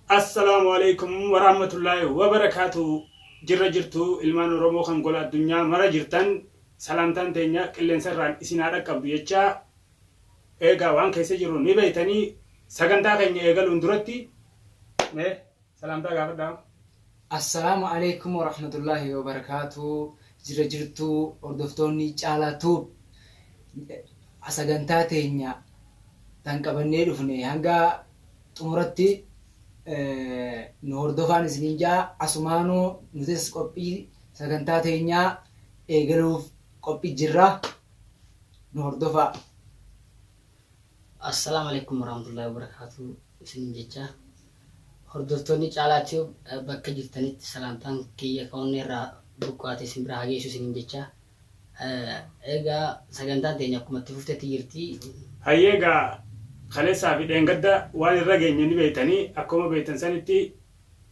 Assalaamu Aleeykum Waraamatullaahi Wabarakaatu Jirra jirtu ilmaan Oromoo kan gola addunyaa mara jirtan salaamtaan teenya qilleensa irraan isin haa dhaqqabdu jechaa eegaa waan keessa jirru ni beeytanii sagantaa keenya eegaluun duratti mee salaamtaa gaafadhaa. Assalaamu Aleeykum Warahmatullaahi Wabarakaatuh Jirra jirtu hordoftoonni Caalaa Tube Sagantaa teenya tan qabannee dhufne hanga xumuratti nu hordofaan isiniin ja'a asumaanuu nutis qophii sagantaa teenyaa eegaluuf qophii jirra nu hordofaa. Assalam Alekum Warahmatullahi Wabarakatuh isinin jecha hordoftoonni Caalaa Tube bakka jirtanitti salaamtaan kiyya ka onneerraa burqaate isin bira haa geessu isinin jecha egaa sagantaan teenya akkuma itti fuftetti jirti. Hayyee egaa kaleessaa fi dheengadda waan irra geenye ni beektanii akkuma beektan sanitti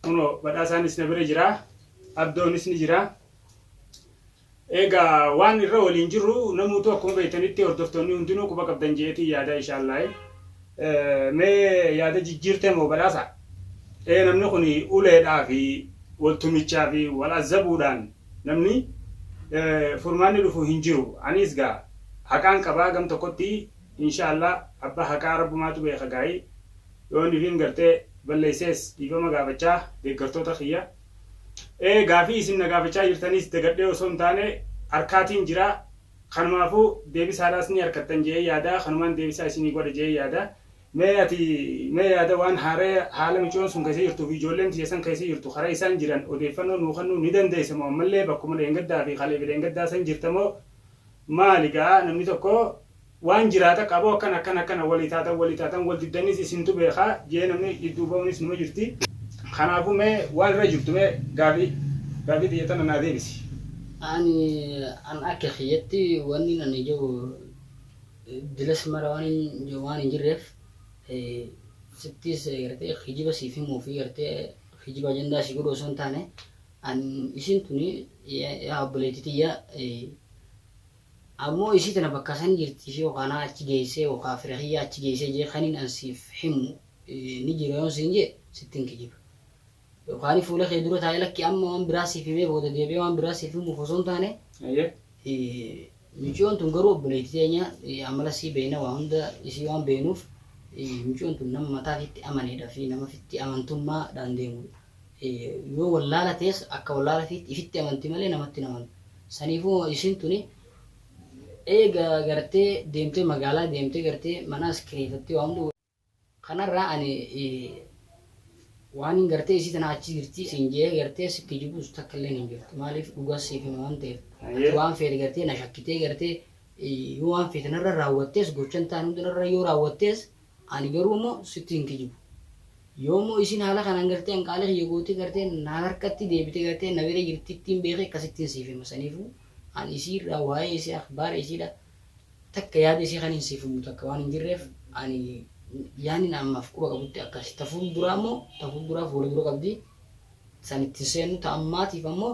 kunoo badhaasaanis na bira jira abdoonis ni jira Eegaa waan irra waliin jirru namuutuu akkuma beektanitti hordoftoonni hundinuu quba qabdan je'eetiin yaada inshaallaahi. Mee yaada jijjiirtee moo badhaasa? Ee namni kun uleedhaa fi wal tumichaa fi wal azzabuudhaan namni furmaanni dhufu hin jiru. Aniis gaa haqaan qaba gam tokkotti inshaallaahi abbaa haqaa rabbumaatu beeka gaayi yoo inni ifiin gartee balleessees dhiifama gaafachaa deeggartoota kiyya. Ee gaafii isin na gaafachaa jirtaniis dagadhee osoo hin taane arkaatiin jira. Kanumaafuu deebisaadhaas ni arkattan je'ee yaada. Kanumaan deebisaa isinii godha je'ee yaada. Mee ati mee yaada waan haaraya haala micoon sun keessa jirtuu fi ijoolleen tiyya san keessa jirtu karaa isaan jiran odeeffannoo nuu kennuu ni dandeessa moo ammallee bakkuma dheengaddaa fi kaleefi dheengaddaa san jirta moo Maali gaa namni tokko waan jiraata qabu akkana akkana akkana walii taatan walii taatan wal diddanis isintu beeka jee namni jidduu ba'unis numa jirti. Kanaafuu mee waan irra jirtu mee gaafii gaafii tiyya tana naa deebisi. Ani an akka kiyyatti wannin ani je'u dilas mara waanin je'u waan hin jirreef sittis gartee kijiba siif himuufi gartee kijiba ajandaa sii godhu osoo hin taane An isiin tuni yaa obboleetti tiyya ammoo isii tana bakka san jirti ishee yookaan naa achi geessee yookaan fira kiyya achi geessee jee kaniin an siif himu ni jira yoon siin jee sitti hin kijiba. Yookaan fuula kee dura taa'ee lakki amma waan biraa siif himee booda deebi'ee waan biraa siif himuuf osoo hin taane miciyoon tun garuu obboleetti teenya amala isii beeyna waa hunda isii waan beeynuuf miciyoon tun nama mataa fiitti amaneedha fi nama fitti amantummaa dhaan deemudha. Yoo wallaala tees akka wallaala fiitti ifitti amanti malee namatti hin amantu. Saniifuu hoo isiin tuni eega gartee deemtee magaalaa deemtee gartee manaas kireefattee waa hunda kanarraa ani waanin gartee isii tana achi jirti siin je'ee gartee si kijibuus takka illeen hin jirtu. Maaliif dhugaa siif hima waan ta'eef. Ati waan feete gartee na shakkitee gartee yoo waan feete narra raawwattees gochan taan hunda narra yoo raawwattees Ani garuu immoo sitti hin kijibu. Yoo immoo isiin haala kanaan gartee an qaalii kiyya gootee gartee na harkatti deebitee gartee na bira jirtittiin beekee akkasittiin siif hima saniifuu an isii irraa waa'ee isii akhbaara isiidha takka yaada isii kaniin siif himu takka waan hin jirreef ani yaanni na ammaaf quba qabutti akkasi ta fuulduraa immoo ta fuulduraaf wal dura qabdi san itti hin seennu ta ammaatiif ammoo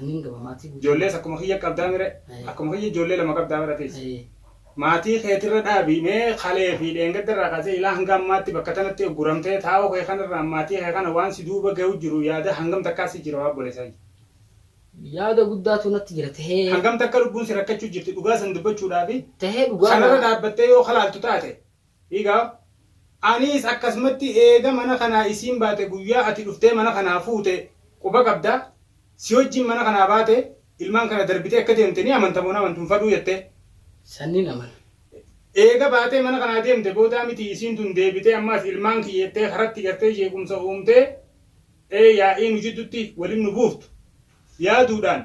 Annin gama maatii guutuu. Ijoollees akkuma kiyya qabdaami ree? Ee. Akkuma kiyya ijoollee lama qabdaa bar atiis? Ee. Maatii keetirra dhaabi mee kalee fi dheengadda irraa kaasee ilaa hanga ammaatti bakka tanatti ugguramtee taa'uu kee kanarraan maatii kee kana waan si duuba gahu jiru yaada hangam takkaa si jira yaa obboleessa kiyya? Yaada guddaatu natti jira tahee. Hangam takka lubbuun si rakkachuu jirti dhugaa san dubbachuudhaafi Tahee dhugaa kanarra naa. dhaabbattee yoo kalaaltu taate Egaa aniis akkasumatti eega mana kanaa isiin baate guyyaa ati dhuftee mana kanaa fuute quba qabda? Si wajjin mana kanaa baate ilmaan kana darbitee akka deemte ni amanta moo hin amantu hin fadhuu jettee? San nin amana. Eega baatee mana kanaa deemte boodaa mitii isiin tun deebitee ammaas ilmaan kiyya jettee karatti gartee jeequmsa uumtee ee yaa'ii nu jiddutti walin nu buuftu? yaaduudhaan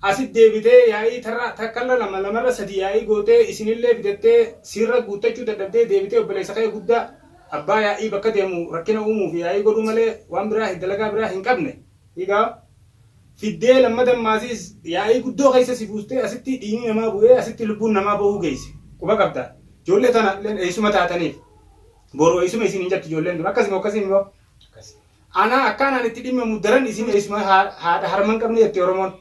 asit deebitee yaa'ii tarra takkalla lama lamarra sadii yaa'ii gootee isinillee fidattee siirra guuttachuu dadhabdee deebitee obboleessa kee gudda abbaa yaa'ii bakka deemu rakkina uumuuf yaa'ii godhuu malee waan biraa dalagaa biraa hin qabne egaa fiddee lammadan maasiis yaa'ii guddoo keessa si buustee asitti dhiigni namaa bu'ee asitti lubbuun namaa ba'uu geesse quba qabda ijoollee tana illeen eessuma taataniif boru eessuma isin hin jattu ijoolleen tun akkasimo akkasii mimo Ana akka anaan itti dhimmamu daran isin eessuma haadha harma hin qabne jetti Oromoon.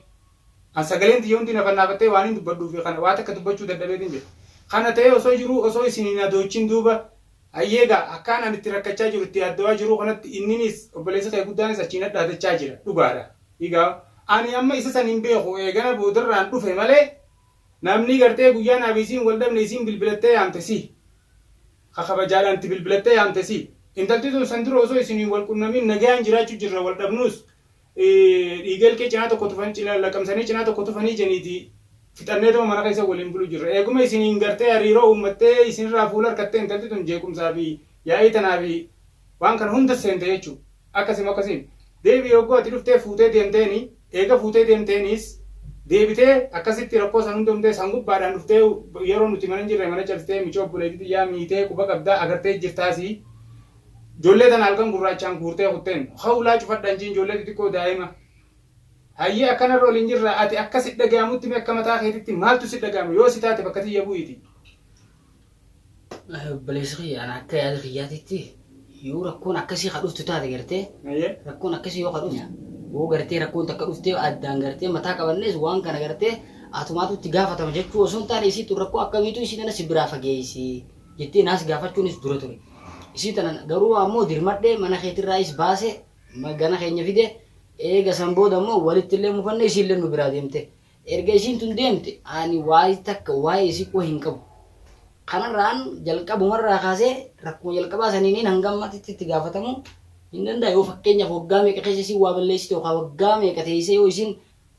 An sagaleen tiyya hundi na fannaafattee waanin dubbadhuufi kana waa takka dubbachuu dadhabeetin jira. Kana ta'ee osoo jiruu osoo isin hin adoochin duuba Hayyee gaa akkaan an itti rakkachaa jiru itti yaaddawaa jiruu kanatti inninis obboleessi kee guddaanis achii na dhaadachaa jira dhugaadha. Egaa ani amma isa san hin beeku eegana boodarraan dhufe malee namni gartee guyyaa naaf isiin wal dhabne isiin bilbilattee yaamte si. ka kabajaadhaan itti bilbilattee yaamte si. Intalti tun san dura osoo isin hin wal qunnamiin nagayaan jiraachuu jirra wal dhabnuus dhiiga ilkee cinaa tokko tufan cina laqamsanii cinaa tokko tufanii janiiti fixanneetuma mana keessa waliin bulu jirra. Eeguma isiniin gartee hariiroo uummattee isinirraa fuula harkattee intalti tun jeequmsaa fi yaa'ii tanaa fi Waan kana hundas seente jechuu. Akkasi moo akkasi miti? Deebi'i yogguu ati dhuftee fuutee deemteeni, eega fuutee deemteeniis deebitee akkasitti rakkoo san hunda uumtee san gubbaadhaan dhuftee yeroo nuti mana hin jirre mana cabsitee michoo obboleetii tiyyaa miitee quba qabdaa agartees jirtaasi. Ijoollee tana halkan gurraachaan guurtee kutteen hawlaa cufadha hin jedhin ijoollee xixiqqoo daa'ima. Hayyee akkanarra waliin jirraa ati akka si dhagayamutti mee akka mataa keetitti maaltu si dhagayama yoo si taate bakka tiyya bu'iiti. Obboleessa kiyya ana akka yaada kiyyaatitti yoo rakkoon akkasii ka dhuftu taate gartee Ayyee. rakkoon akkasii yoo ka dhuftu yoo gartee rakkoon takka dhuftee addaan gartee mataa qabannees waan kana gartee atumaatu itti gaafatama jechuu osoo hin taane isii tun rakkoo akkamiitu isii tana si biraa fageessi jettee naas gaafachuunis dura ture. Isii tana garuu ammoo dirmadhee mana keetirraayis baase ma- gana keenya fide eega san booda ammoo walitti illee mufanne isiillee nu biraa deemte. Erga isiin tun deemte ani waayii takka waayee isii quba hin qabu. Kanarraan jalqabuma irraa kaasee rakkuma jalqabaa saniiniin hanga ammatitti itti gaafatamuu hin danda'a. Yoo fakkeenyaaf waggaa meeqa keessa isiin waa balleessite yookaa waggaa meeqa teessee yoo isiin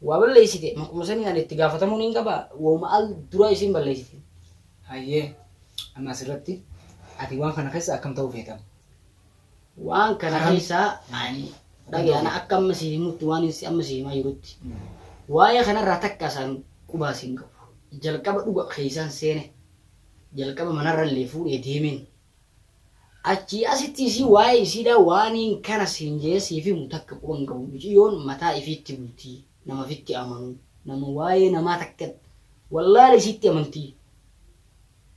waa balleessite makuma saniin ani itti gaafatamuun hin qaba wahuma al duraa isiin balleessiteen. Hayyee amma asirratti ati waan kana keessa akkam ta'uu feeta? Waan kana keessaa ani dhagaye ana akka amma si himutti waan inni amma si himaa jirutti waa'ee kanarraa takka isaan qubaas hin qabu. Jalqaba dhuga keessaan seene jalqaba manarra illee fuudhee deemeen achii asitti isii waa'ee isiidhaa waaniin kana siin jee siif himu takka quba hin qabu muciyyoon mataa ifiitti bultii. nama fitti amanu nama waayee namaa takka wallaale isiitti amantii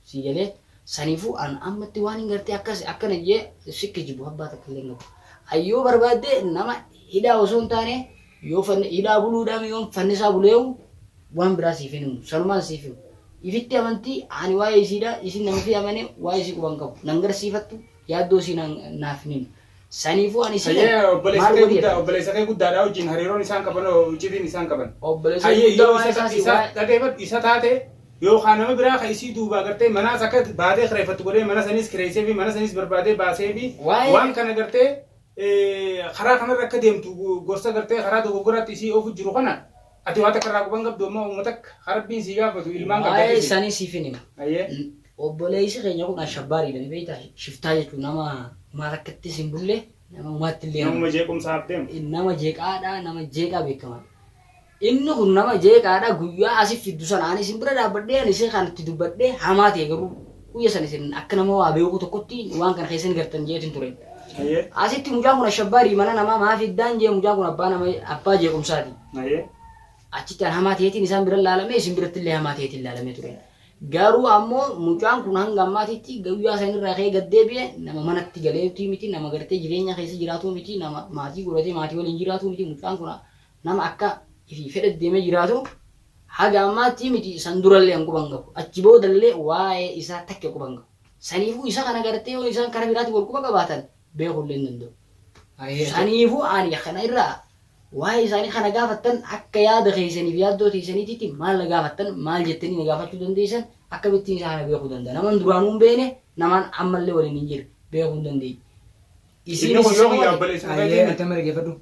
sii galee saniifuu an ammatti waanin gartee akkas akkana jee si kijibu abbaa takka illee hin qabu an yoo barbaadde nama hidhaa osoo hin taane yoo fanni hidhaa buluudhaan yoon fannisaa buleewu waan biraa siif hin himu sanumaan siif himu ifitti amantii ani waa'ee isiidha isin nama fi amane waa'ee isii quban qabu nan garsiifattu yaaddoo isii naan- naaf hin himu Saniifuu ani sila Hayyee maal obboleessa kee godhi guddaa jedhan. obboleessa kee guddaadhaa wajjin hariiroon isaan qaban hoo iccitiin isaan qaban. Obboleessa Hayyee guddaa yoo waa'ee isa isaa si isa waa'ee. dhageeffadhu isa taate yookaan nama biraa kan isii duubaa gartee manaas akka baatee kireeffattu godhee mana saniis kireessee fi mana saniis barbaadee baasee fi Waa'ee- waan kana gartee eh, karaa kanarra akka deemtu gorsa gartee karaa dogoggoraatti isii oofu jiru kana Ati waa takka irraa quba hin qabdu ammoo uuma takka ka Rabbiin sii gaafatu ilmaan qabda Waa'ee dhisi. isaanii siifin hima. Ayyee. N- Obboleessi keenya kun ashabbaariidha ni beektaa? Shiftaa jechuun nama umaa takkattis hin bulle nama umaatti illee Namuma jeequmsaaf deemu. nama jeeqaadha nama jeeqaa beekamaa. Inni kun nama jeeqaadha guyyaa asif fiddu sana ani isin bira dhaabbadhee ani isin kanatti dubbadhee hamaa ta'e garuu guyya sana isin akka nama waa beekuu tokkotti waan kana keessa hin gartan jeetin ture. Ayyee. Asitti mucaan kun ashabbaarii mana namaa maa fiddaan jee mucaan kun abbaa nama abbaa jeequmsaati. malee. Achitti an hamaa ta'eetiin isaan bira laalamee isin biratti illee hamaa ta'eetiin laalamee ture. Garuu ammoo mucaan kun hanga ammaatitti guyyaa san irraa ka'ee gad deebi'e nama manatti galeetii miti nama gartee jireenya keessa jiraatuu miti nama maatii godhatee maatii waliin jiraatuu miti mucaan kun nama akka fi fedhe deemee jiraatu haga ammaatti miti san durallee an quban qabu achi boodallee waa'ee isaa takke quban qabu saniifuu isa kana gartee yoo isaan karaa biraatiin wal quba qabaatan beekuu illee hin danda'u. Saniifuu ani kana irraa Waa'ee isaanii kana gaafattan akka yaada keessanii fi yaaddoo teessaniititti maal na gaafattan maal jettanii na gaafachuu dandeessan akkamittiin isaa kana beekuu danda'a naman duraanuu hin beekne namaan ammallee waliin hin jirre beekuu hin dandeenye. Isiin Inni kun isa yoo kiyyaa qofaati. obboleessa Ayyee isaatiimi. atama dhaggeeffadhu.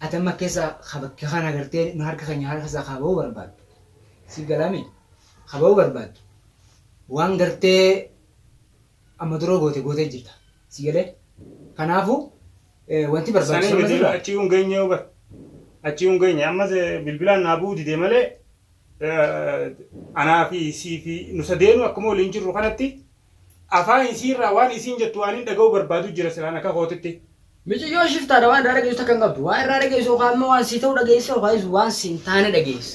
Atama keessa ka bakka kan agartee nu harka keenya harka isaa kaa ba'uu barbaaddu. Si galaami. Kaa ba'uu barbaaddu. Waan gartee Amma duroo goote gootee jirta. Si galee? Kanaafu wanti Sanii barbaachisu amma miti sirra. achii hin geenye yoo bar. Achii hin geenye ammas eh, bilbilaan naa bu'uu didee malee eh, anaa fi sii fi nu sadeenu akkuma waliin jirru kanatti afaan isii irraa waan isiin jettu waan hin dhaga'u barbaadu jira silaan akka kootitti. Miciyyoon shiftaadha waan irraa dhageessu takka hin qabdu. Waan irraa dhageessu yookaan immoo waan sii ta'u dhageessa yookaan waan sii hin taane dhageessa.